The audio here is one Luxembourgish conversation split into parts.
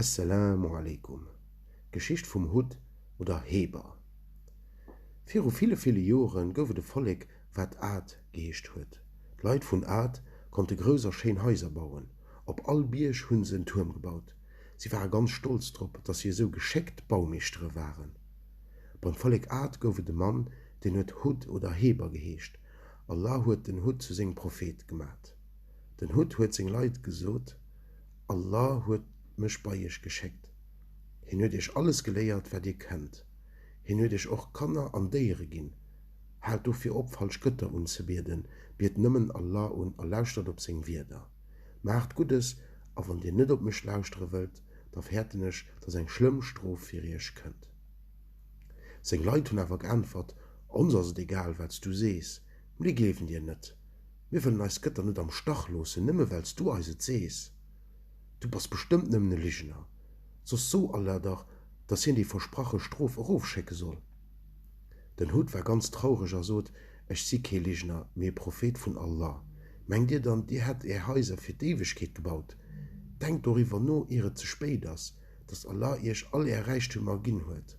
Esselamu aleykum, D'Geschicht vum Hutt oder Heber. Viru ville ville Joren gouf et e Vollek wat Aad geheescht huet. D'Leit vun Aad konnte grouss a schéin Haiser bauen. Op all Bierg hu se en Tuerm gebaut. Si ware ganz stolz drop, datt si esou geschéckt Baumeeschtere waren. Beim Vollek Aad gouf et e Mann, deen huet Hud oder Heber geheescht. Allah huet den Hud zu sengem Prophet gemat. Den Hutt huet seng Leit gesot, Allah huet mech bei iech geschéckt. Hien huet iech alles geléiert, wat dir kennt. Hien huet iech och Kanner an Déiere ginn. Haalt dofir op, falsch Gëtter unzebieden, biet nëmmen Allah un a lauschtert op seng Wierder. Maacht Guddes, a wann dir net op mech lauschtere wëllt, da fäerten ech, dass eng schlëmm Strof fir iech kënnt. Seng Leit hunn awer geäntwert, Ons ass et egal, wat s du sees, mir gleewen dir net. Mir wëllen eis Gëtter net am Stach loossen, nëmme well s du eis et sees. Du bass bestëmmt nëmmen e Ligener, soss so Allah dach, dass hien déi versprache Strof erofschécke soll. Den Hud war ganz traureg a sot, Ech si kee Ligener, mee e Prophet vun Allah. Mengt dir dann, dir hätt är Haiser fir d'Éiwegkeet gebaut? Denkt doriwwer no, ier et ze spéit ass, dass Allah iech all är Räichtümer ginn huet.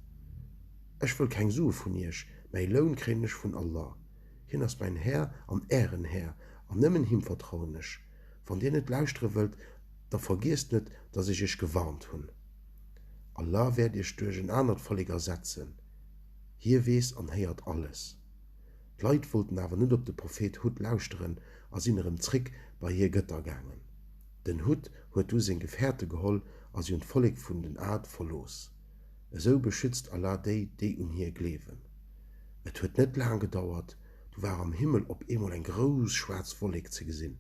Ech wëll keng Sue vun iech, mäi Loun kréien ech vun Allah. Hien ass mäin Här an ären Här, an nëmmen him vertrauen ech. Wann dir net lauschtere wëllt, da vergiesst net, datt ech iech gewarnt hunn. Allah wäert iech duerch en anert Vollek ersetzen. Hie weess an héiert alles. D'Leit wollten awer net op de Prophet Hud lauschteren a sinn erëm zréck bei hir Gëtter gaangen. Den Hud huet du seng Gefährte geholl a si hunn d'Vollek vun den Aad verlooss. Esou beschützt Allah déi, déi un Hie gleewen. Et huet net laang gedauert, du war am Himmel op eemol eng grouss schwaarz Wollek ze gesinn.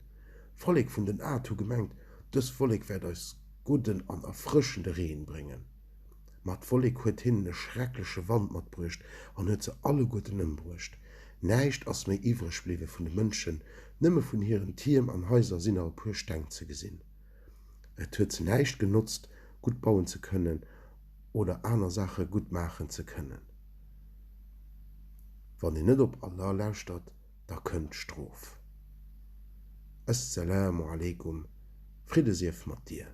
D'Vollek vun den Aad hu gemengt, Dës Wollek wäert eis gudden an erfrëschende Reen bréngen. Ma d'Wollek huet hinnen e schreckleche Wand matbruecht an huet se alleguerten ëmbruecht. Näischt ass méi iwwreg bliwwe vun de Mënschen, nëmme vun hiren Tierm an Haiser sinn nach e puer Steng ze gesinn. Et huet se näischt genotzt, gutt bauen ze kënnen oder aner Saache gutt maachen ze kënnen. Wann een net op Allah lauschtert, da kënnt d'Strof. As-Salaamu Alaikum, Fridde sief mat dir!